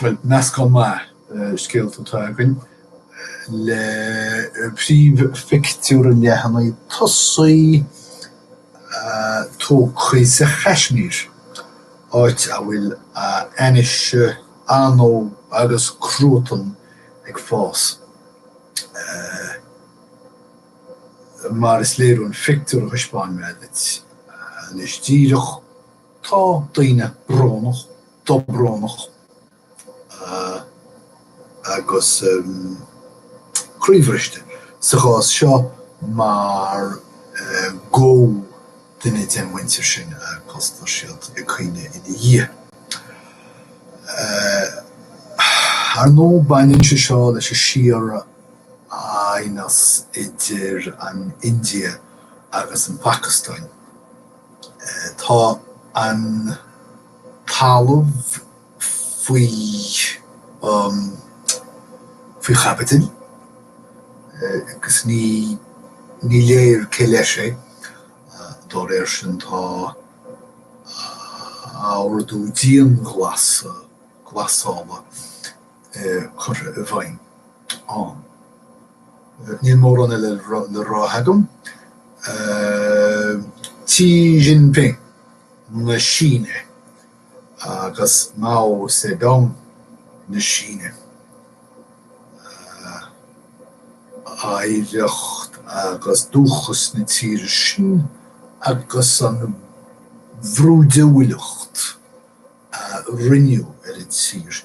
Bhuel, meascán maith scéalta atá againn, le príomhphictiúr an leathanaigh tosaigh tógtha sa Chaismír, áit a bhfuil ainnise, anó agus cruatan ag fás. Mar is léir ón phictiúr a thaispeáin mé duit anois díreach, Tá daoine brónach, dobrónach agus croíbhriste sa chás seo mar gur duine den mhuintir sin agus tá siad ag caoineadh ina dhiaidh. Ar ndóigh, baineann sé seo leis an síor-aighneas idir an India agus an Phacastáin. Tá an talamh faoi faoi chaibidil agus ní ní léir cé leis é. Dá réir sin, tá ordú dianghlasála. curtha i bhfeidhm ann. Níl mórán eile le rá agam. Xi Jinping na Síne agus Mao Zedong na Síne, oidhreacht agus dúchas na tíre sin agus an bhrúidiúlacht a rinneadh ar an tír.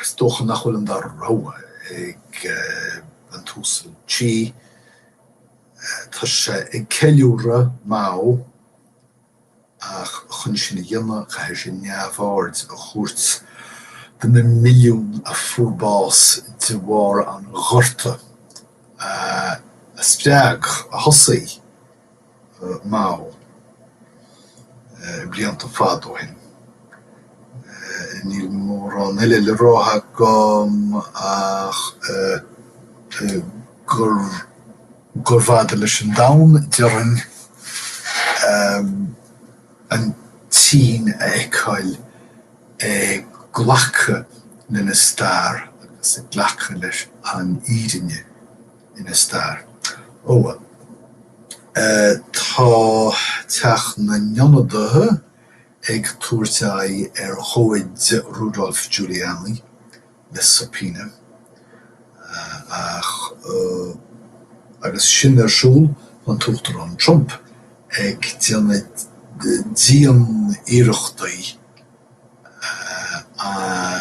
Is dócha nach bhfuil an dara rogha ag an tUasal Xi. Tá sé ag ceiliúradh Mao ach chun sin a dhéanamh caithfidh sé neamhaird a thabhairt do na milliúin a fuair bás de bharr an ghorta a spreag, a thosaigh, Mao blianta fada ó shin. Níl mórán eile le rá agam ach gurbh fhada leis an domhan, déarfainn, an tSín a fheiceáil ag glacadh lena stair agus ag glacadh leis an fhírinne ina stair. Ó tá Teach na nIonadaithe ag tabhairt aghaidh ar chomhaid Rudolph Giuliani le subpoena ach agus sin ar siúl tá an tUachtarán Trump ag déanamh dianiarrachtaí an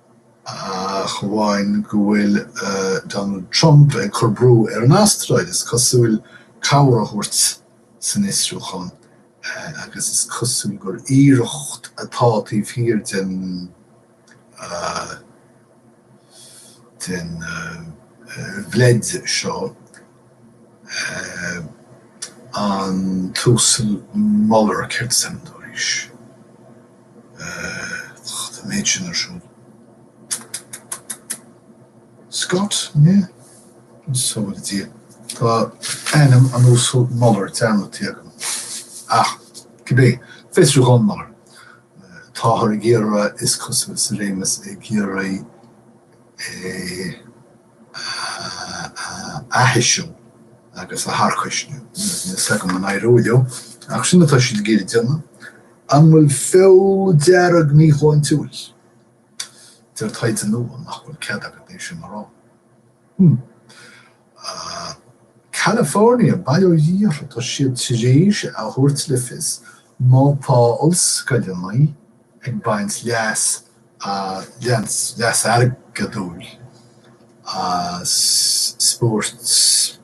ach amháin go bhfuil Donald Trump ag cur brú ar an Astráil, is cosúil, cabhair a thabhairt san fhiosrúchán, agus is cosúil gur iarracht atá taobh thiar den bhleid seo. an tUasal Mueller céard is ainm dó arís? tá an méid sin ar siúl. Scott, an ea? An só le Dia. Tá ainm an Uasail Mueller dearmadta agam. Ach, cibé, fiosrúchán Mueller. Táthar ag iarraidh, is cosúil, sa réimeas ag iarraidh é. a aithisiú agus a tharcaisniú. Níl a fhios agam an éireoidh leo, ach sin atá siad ag iarraidh déanamh. An bhfuil feoil dhearg míshláintiúil? Deir taighde nua nach bhfuil cead agat é sin a rá. Hmm. California, bail ó Dhia orthu, tá siad tar éis a thabhairt le fios má tá ollscoileanna ag baint leas leas, leas airgeadúil, as spóirt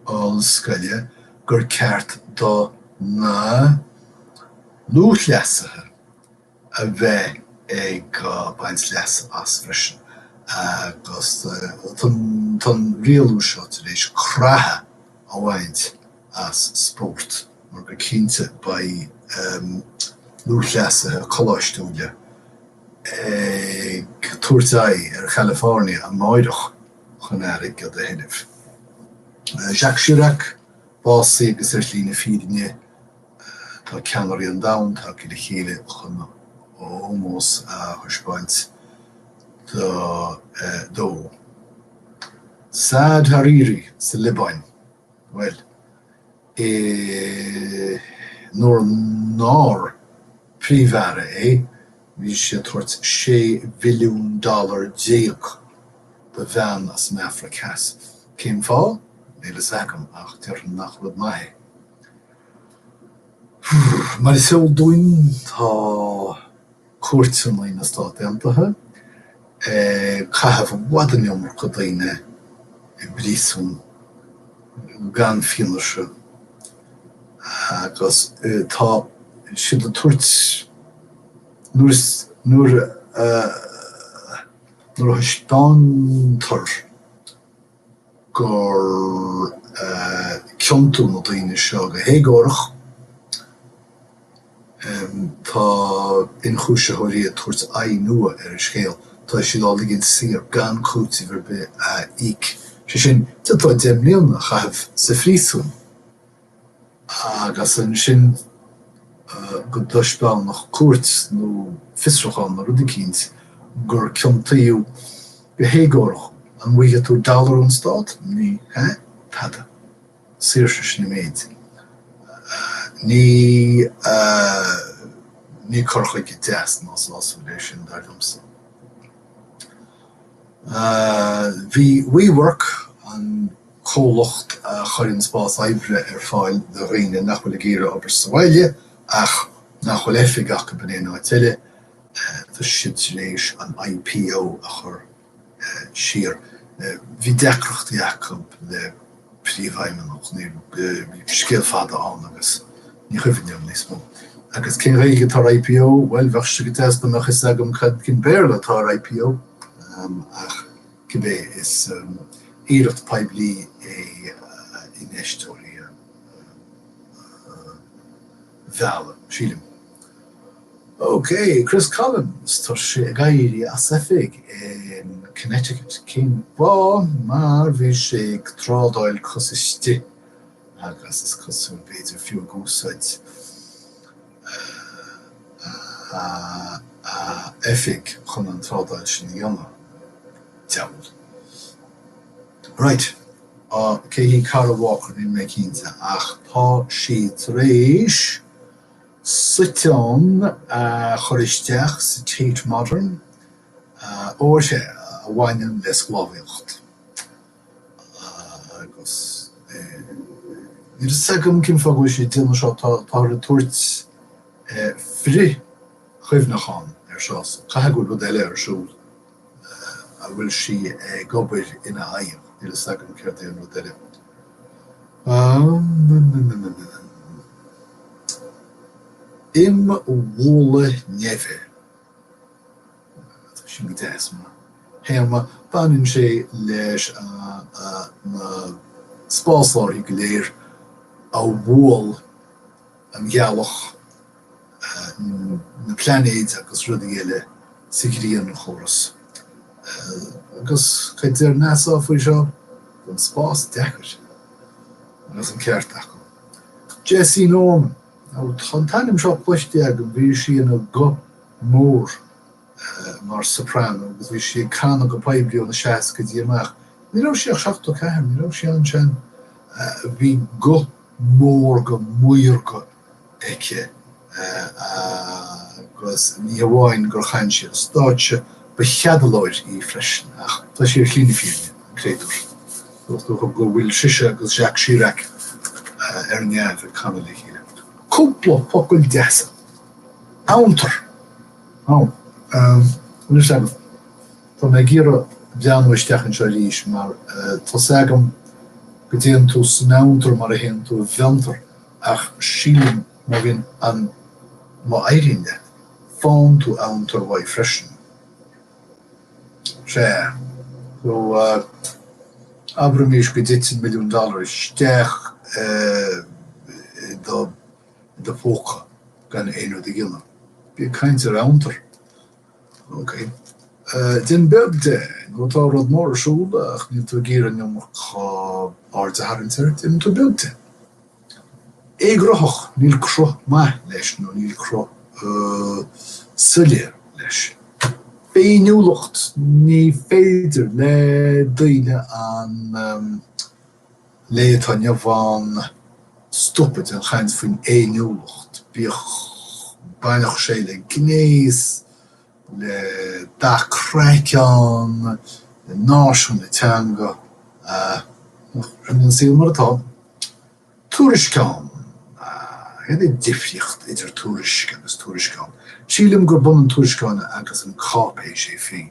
ollscoile, gur ceart do na lúthchleasaithe a bheith ag baint leasa as freisin agus tá an rialú seo tar éis creatha a bhaint as spórt mar go cinnte beidh lúthchleasaithe coláistiúila ag tabhairt aghaidh ar Chalifornia amárach chun airgead a thuilleamh. Jacques Chirac básaithe agus ar shlí na fírinne Tá ceannairí an domhain tagtha le chéile chun ómós a thaispeáint dó. Saad Hariri sa Liobáin, bhuel, nuair nár Príomh-Aire é, bhí sé ag tabhairt 16 bhilliún dollar do bhean as an Afraic Theas. Cén fáth? Níl a fhios agam, ach déarfainn nach rud maith é. Mar is eol dúinn, tá cúirteanna na Stát Aontaithe ag caitheamh i bhfad an iomarca daoine i bpríosún gan fianaise agus tá siad ag tabhairt, nuair a thaispeántar gur ciontaíodh na daoine seo go héagórach. Tá ionchúisitheoirí ag tabhairt aghaidh nua ar an scéal. Tá siad á ligean saor gan cúiteamh ar bith a íoc. Sé sin, d'fhéadfá deich mbliana a chaitheamh sa phríosún. agus ansin go dtaispeánfadh cúirt nó fiosrúchán nó rud eicínt gur ciontaíodh go héagórach. An bhfaighidh tú dollar ón Stát? Ní hea, tada. Saoirse, sin an méid. Ní, ní cur chuige deas ná sásúil é sin, dar liomsa. Bhí WeWork, an. comhlacht a chuireann spás oibre ar fáil do dhaoine nach bhfuil ag iarraidh obair sa bhaile ach nach bhfuil oifig acu in aon áit eile, tá siad tar éis an IPO a chur siar. Bhí deacrachtaí acu leis an bpríomhfheidhmeannach, bhí scéal fada ann agus ní chuimhním níos mó. Agus cén Ghaeilge atá ar IPO? Bhuel, bheadh sé go deas dá mbeadh fhios agam cad cén Béarla atá ar IPO ach. cibé is iarracht phoiblí é infheisteoirí a mhealladh. Sílim. OK, Chris Collins, tá sé ag éirí as oifig in Connecticut. Cén fáth? Mar bhí sé ag trádáil cos istigh agus is cosúil b'fhéidir fiú ag úsáid Oifig chun an trádáil sin a dhéanamh. Diabhal. Right. Cé hí Kara Walker? Níl mé cinnte ach tá sí tar éis suiteán a chur isteach sa Tate Modern, ó sé a bhaineann le sclábhaíocht. agus níl fhios agam cén fáth go bhfuil sí ag déanamh seo, táthar ag tabhairt frithchuimhneachán ar seo, so caithfidh go bhfuil rud eile ar siúl a bhfuil sí ag obair ina aghaidh, níl fhios agam céard é an rud eile. Imbhualadh neimhe. tá sin go deas, mar théama, baineann sé leis na spásárthaí go léir a bhuail an Ghealach, na plainéid agus rudaí eile sa ghrianchóras. Agus cad a deir NASA faoi seo? Tá an spás deacair. Agus an ceart acu. Jessye Norman, tá an t-ainm seo cloiste agam, bhí sí ina guth. mór mar soprano agus bhí sí ag canadh go poiblí ó na seascaidí amach. Ní raibh sí ach 74, ní raibh sí an-sean. Bhí guth mórga maorga aici agus ní hamháin gur chan sí ar stáitse, ba cheadalóir í freisin. Ach tá sí ar shlí na fírinne, an créatúr. Dócha go bhfuil sise agus Jacques Chirac ar neamh ag canadh le chéile. Cúpla focal deasa. Amhantar. Ó, ehm, bhfuil 'fhios agat, tá mé ag iarraidh breathnú isteach anseo arís mar tá 's agam go dtéann tú san amhantar mar a théann tú i bhfiontar ach sílim má bhíonn an, má éiríonn leat, faigheann tú amhantar uaidh freisin. Sea. So, eh, abraimís go dtiteann milliún dollar isteach, eh, i do. i do phóca gan aon rud a dhéanamh. Bí ag caint ar amhantar. OK. Déan beag de nó tá rud mór ar siúl ach níl tú ag iarraidh an iomarca aird a tharraingt air, déanann tú beag de. Éagruthach, níl cruth maith leis nó níl cruth soiléir leis. Féiniúlacht, ní féidir le daoine an. lae atá inniu ann stopadh den chaint faoin fhéiniúlacht, bíodh baineadh sé le gnéas, le dath craiceann, le náisiún, le teanga, sin é an saol mar atá. Tuairisceán, cad é an difríocht idir tuairisc agus tuairisceán? Sílim gurb ionann tuairisceán agus an cáipéis é féin.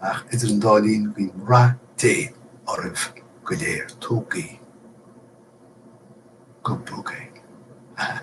Ach idir an dá linn guím rath Dé oraibh go léir. Tógaí go bog é. Hah.